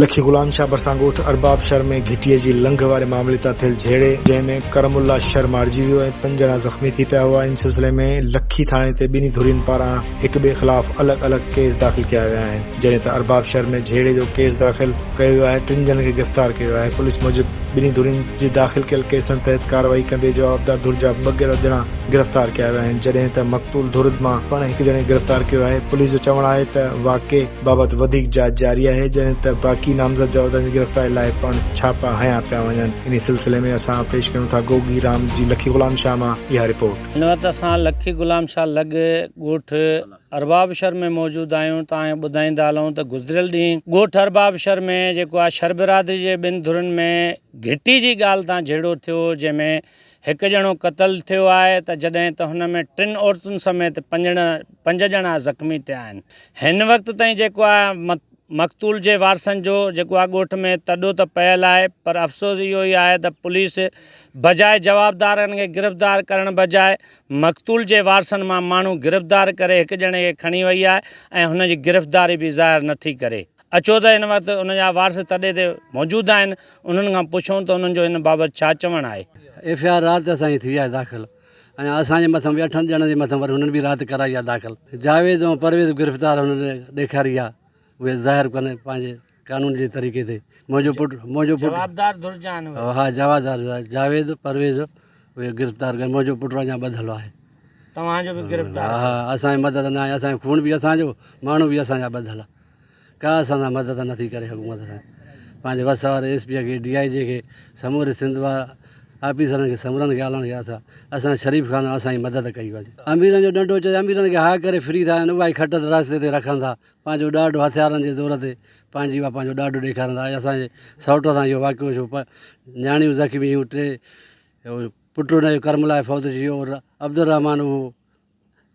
لکي غلام شاهه ڀرسان ڳوٺ ارباب شھر ۾ گھٽيء جي لنگھه واري معاملي تان ٿيل جھيڙي جنهن ۾ ڪرم الله شھر مارجي ويو ۽ پنج ڄڻا زخمي ٿي پيا هئا ان سلسلي ۾ لکي ٿاڻي تي ٻنهي ڌرين پاران هڪ ٻئي خلاف الڳ الڳ ڪيس داخل ڪيا ويا آهن جڏهن ته ارباب شھر ۾ جھيڙي جو ڪيس داخل ڪيو ويو آهي ٽن ڄڻن کي گرفتار ڪيو ويو آهي پوليس موجب ٻنهي ڌرين جي داخل ڪيل ڪيسن تحت ڪارروائي ڪندي جوابدار ڌر جا ٻه ڄڻا گرفتار ڪيا ويا آهن جڏهن ته مقتول ڌر مان پڻ هڪ ڄڻي گرفتار ڪيو آهي پوليس جو چوڻ آهي ته واقعي بابت وڌيڪ جاچ جاري آهي جڏهن ته باقي نامزد جا عهدن جي گرفتاري لاء پڻ ڇاپا هنيا پيا وڃن انهي سلسلي ۾ اسان پيش ڪيون ٿا گوگي رام جي لکي غلام شاهه مان اها رپورٽ. هن وقت اسان لکي غلام شاهه لڳ ڳوٺ اربابشهر ۾ موجود آهيون توهان کي ٻڌائيندا هلون ته گذريل ڏينهن ڳوٺ اربابشهر ۾ جيڪو آهي شھر برادري جي ٻن ڌرين ۾ گهٽي جي ڳالهه تان جهيڙو ٿيو جنهن ۾ هڪ ڄڻو قتل ٿيو آهي ته جڏهن ته هن ۾ ٽن عورتن سميت پنج ڄڻا زخمي ٿيا آهن. هن وقت تائين جيڪو آهي مقتول جي وارثن جو جيڪو آهي ڳوٺ ۾ تڏو ته پيل آهي پر افسوس اهو ئي آهي ته پوليس بجاء جوابدارن کي گرفتار ڪرڻ بجاء مقتول جي وارثن مان ماڻهو گرفتار ڪري هڪ ڄڻي کي کڻي وئي آهي ۽ هن جي گرفتاري به ظاهر نٿي ڪري. اچو ته هن وقت ان جا وارث تڏي تي موجود آهن، انهن کان پڇون ته انهن جو ان بابت ڇا چوڻ آهي. ايف آء آر رات اسان جي ٿي آهي داخل ۽ اسان جي مٿان به اٺن ڄڻن جي مٿان وري هنن به رات ڪرائي آهي داخل. جاويد ۽ پرويز گرفتار هنن ڏيکاري آهي اهي ظاهر ڪن پنهنجي قانون جي طريقي تي منهنجو پٽ منهنجو پٽ جوابدار ڌر جا آهن اهي. ها جوابدار جاويد پرويز اهي گرفتار ڪن منهنجو پٽ اڃا ٻڌل آهي. توهان جو به گرفتار ڪن. ها اسان جي مدد نه آهي اسان جو خون به اسان جو ماڻهو به اسان جا ٻڌل. ڪا اسان سان مدد نه ٿي ڪري حڪومت سان پنهنجي وس واري ايس پي کي ڊي آئي جي کي سموري سنڌ وا آفيسرن کي سمورن کي اعلان ڪيا اٿا اسان شريف خان اسان جي مدد ڪئي وڃي اميرن جو ڏنڊو چئي اميرن کي هاء ڪري فري ٿا ڏين اها ئي کٽ رستي تي رکن ٿا پنهنجو ڏاڍ هٿيارن جي زور تي پنهنجي وا پنهنجو ڏاڍ ڏيکارن ٿا اسان جي سئوٽ سان اهو واقعو ٿيو پر نياڻيون زخمي ٿيون ٽي پٽ ان جو ڪرملاء فوت ٿي ويو عبدالرحمان هو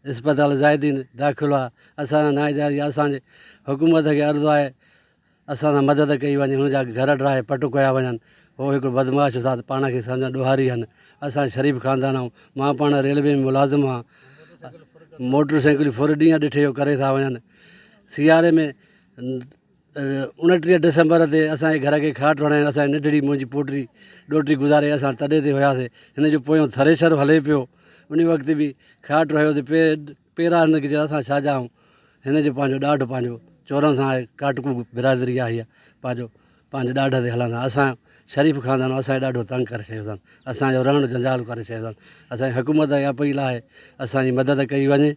اسپتال زاهدين داخل هئا اسان سان نااجائز يا اسان جي حڪومت کي عرض آهي اسان سان مدد ڪئي وڃي هن جا گهر ڊاهي پٽ ڪيا وڃن هو هڪڙو بدمعاش استاد پاڻ کي سمجهن ڏوهاري هن اسان شريف خاندان آهون مان پاڻ ريلوي ۾ ملازم هان موٽر سائيڪلون ڦر ڏينهن ڏٺي جو ڪري ٿا وڃن سياري ۾ اوڻٽيهه ڊسمبر تي اسان جي گهر کي کاٽ هڻائي ۽ اسان جي ننڍڙي منهنجي پوٽي ڏوهٽي گذاري اسان تڏي تي هياسي هن جو پويون ٿريشر هلي پيو انهي وقت به کاٽ هيو تي پي پيرا هن کي اسان ڇا چاهون هن جو پنهنجو ڏاڍ پنهنجو چورن سان آهي ڪاٽڪو برادري آهي اها پنهنجو پنهنجي ڏاڍ تي هلندا اسان شريف خاندان اسان کي ڏاڍو تنگ ڪري ڇڏيو اٿن اسان جو رهڻ جنجال ڪري ڇڏيو اٿن اسان جي حڪومت کي اپيل آهي اسان جي مدد ڪئي وڃي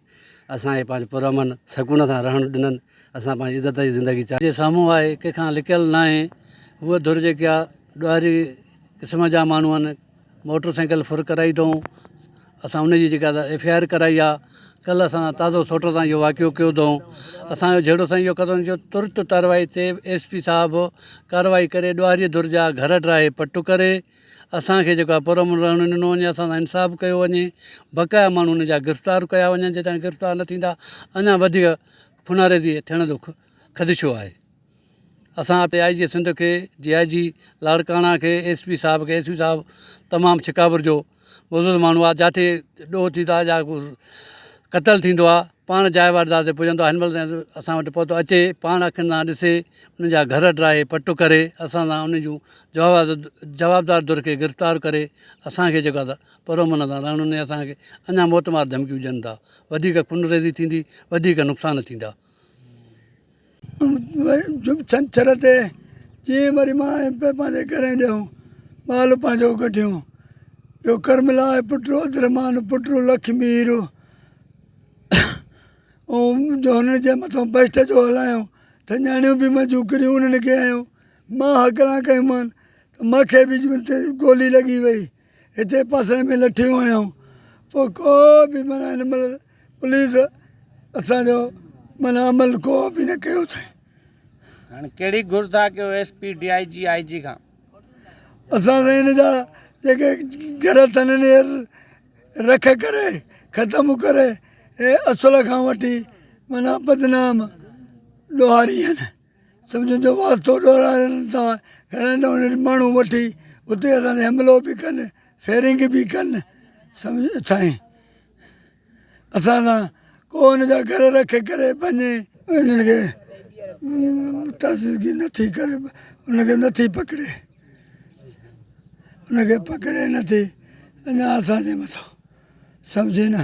اسان کي پنهنجو پرامن سڪون سان رهڻ ڏنن اسان پنهنجي عزت جي زندگي چاهي. جي سامهون آهي ڪنهن کان لڪيل ناهي هوء ڌر جيڪي آ ڏوهاري قسم جا ماڻهو آهن موٽر سائيڪل ڦر ڪرائي اٿئون اسان ان جي جيڪا ايف آء آر ڪرائي آ ڪل اسان سان تازو سوٽر تان اهو واقعو ڪيو اٿئون اسان جو جهيڙو سائين اهو قدم جو ترت تارروائي تي ايس پي صاحب ڪارروائي ڪري ڏوهاري ڌر جا گهر ڊاهي پٽ ڪري اسانکي جيڪو آ پر امن رهڻ ڏنو وڃي اسان سان انصاف ڪيو وڃي بقايا ماڻهو ان جا گرفتار ڪيا وڃن جيستائين گرفتار نه ٿيندا اڃا وڌيڪ خونريزي ٿيڻ جو خدشو آهي اسان ڊي آء جي سنڌ کي ڊي آء جي لاڙڪاڻا کي ايس پي صاحب کي ايس پي صاحب تمام ڇڪابر جو بزرگ ماڻهو آهي جاٿي ڏوهه ٿي ٿا جا ڪو قتل ٿيندو آهي پاڻ جاء واردات تي پڄندو آهي هن مهل تائين اسان وٽ پهتو اچي پاڻ اکين سان ڏسي ان جا گهر ڊاهي پٽ ڪري اسان سان ان جون جوابدار در کي گرفتار ڪري اسانکي جيڪو آهي سا پرامن سان رهڻ ۾ اسان کي اڃا موتمار ڌمڪيون ڏين ٿا، وڌيڪ خونريزي ٿيندي، وڌيڪ نقصان ٿيندا. ڇنڇر تي جيئن وري مان ۽ پي پنهنجي گهرين ڏيئون، مال پنهنجو ڪڍيون. اهو ڪرم لاء پٽ رو عبدالرحمان پٽ رو لکمي هيرو ۽ جو هنن جي مٿان بهشت جو هلايو ته نياڻيون به منهنجون ڪريون انهن کي هنيو، مان هڪلا ڪيومان ته مون کي به گولي لڳي وئي. هتي پاسي ۾ لٺيون هنيائون پوء ڪو به معنيٰ هن مهل پوليس اسان جو معنيٰ عمل ڪو به نه ڪيو اٿائين. هاڻي ڪهڙي گهر ٿا ڪيو S P D I G I G کان. اسان سائين هن جا جيڪي گهر اٿن هن جي رک ڪري ختم ڪري هي اصل کان وٺي معنيٰ بدنام ڏوهاري هين. سمجهن جو واسطو ڏورائن ٿا گهرائين ته انهن ماڻهو وٺي اتي اسان تي حملو به ڪن فيرنگ به ڪن سمجهيو سائين اسان سان ڪو ان جا گهر رکي ڪري پنهنجي انهن کي تحسيسگي نه ٿي ڪري انهن کي نه ٿي پڪڙي انهن کي پڪڙي نه ٿي اڃا اسان جي مٿان سڀ زينا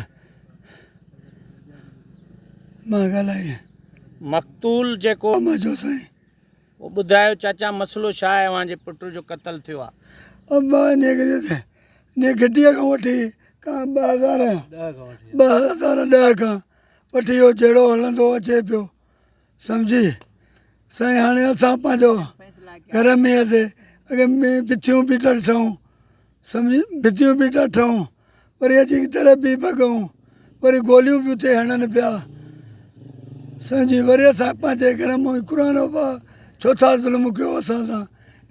مان ڳالهائي. مقتول جيڪو. امان جو سائين. او ٻڌايو چاچا مسئلو ڇا آهي اوهان جي پٽ جو قتل ٿيو آ. امان نيگريء تي نيگريء کان وٺي کان ٻه هزار ڏهه کان وٺي اهو جهيڙو هلندو اچي پيو. سمجهي سائين هاڻي اسان پنهنجو گهر ۾ هياسي اڳي مين ڀتيون بيٽا ڏٺائون سمجهي ڀتيون بيٽا ڏٺائون وري اچي تر بي بگون وري گوليون به اتي هڻن پيا سمجهي وري اسان پنهنجي گهر مان قرآن ابا ڇو ٿا ظلم ڪيو اسان سان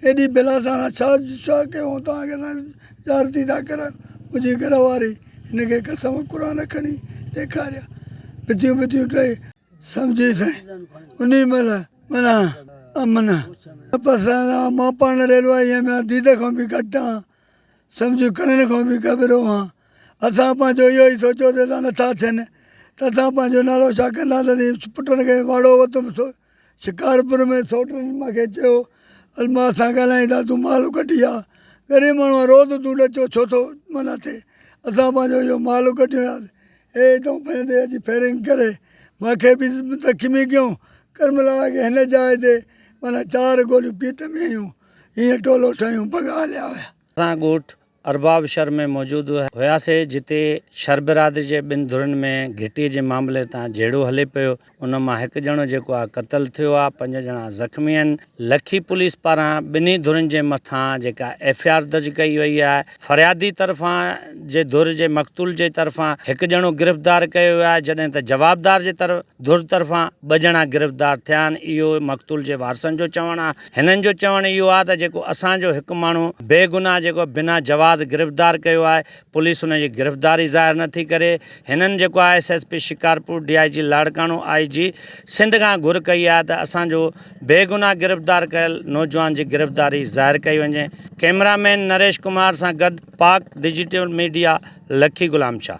ايڏي بلا سان ڇا ڇا ڪيو توهان کي اسان زيارتي ٿا ڪريو منهنجي گهر واري هن کي قسم قرآن کڻي ڏيکاريا ڀتيون ڀتيون ٽئي سمجهي سائين انهي مهل منان امن تپس سان رهان مان پاڻ ريلو آهي ۽ ميان ديده کان به گهٽ آهان سمجهه ڪرڻ کان به ڪٻرو آهان اسان پنهنجو اهو ئي سوچيو ته اسان نٿا ٿين ته اسان پنهنجو نالو ڇا ڪنداسين پٽن کي واڙو وتم سو شڪارپور ۾ سوٽن مان کي چيو الماس سان ڳالهائين ٿا تون مال ڪڍي آ غريب ماڻهو آهي روز تون ڏچو ڇو ٿو منا ٿئي اسان پنهنجو اهو مال ڪڍيو آهي اي تون پنهنجي اچي فيرنگ ڪري مان کي به زخمي ڪيو ڪرملا کي هن جاء تي معنيٰ چار گوليون پيٽ ۾ هنيون هيئن ٽولو ٺهيون پڳا هليا ويا. اسان ڳوٺ ارباب شھر ۾ موجود هياسي جتي شھر برادري جي ٻن ڌرين ۾ گهٽي جي معاملي تان جهيڙو هلي پيو، ان مان هڪ ڄڻو جيڪو آهي قتل ٿيو آهي، پنج ڄڻا زخمي آهن، لکي پوليس پاران ٻنهي ڌرين جي مٿان جيڪا ايف اي آر درج ڪئي وئي آهي، فريادي طرفان جي ڌر جي مقتول جي طرفان هڪ ڄڻو گرفتار ڪيو ويو آهي جڏهن ته جوابدار جي ڌر طرفان ٻه ڄڻا گرفتار ٿيا آهن اهو مقتول جي وارثن جو چوڻ آهي هنن جو چوڻ اهو آهي ته جيڪو اسان جو هڪ ماڻهو بي گناهه جيڪو بنا جواز گرفتار ڪيو آهي پوليس ان جي گرفتداري ظاهر نه ٿي ڪري هنن جيڪو I S S P Shikarpur D I G Larkana I G Sindh کان گهر ڪئي آهي ته اسان جو بيگناهه گرفتدار ڪيل نوجوان جي گرفتداري ظاهر ڪئي وڃي ڪئميرا مين نريش ڪمار سان گڏ پاڪ ڊجيٽل ميڊيا لکي غلام شاھ.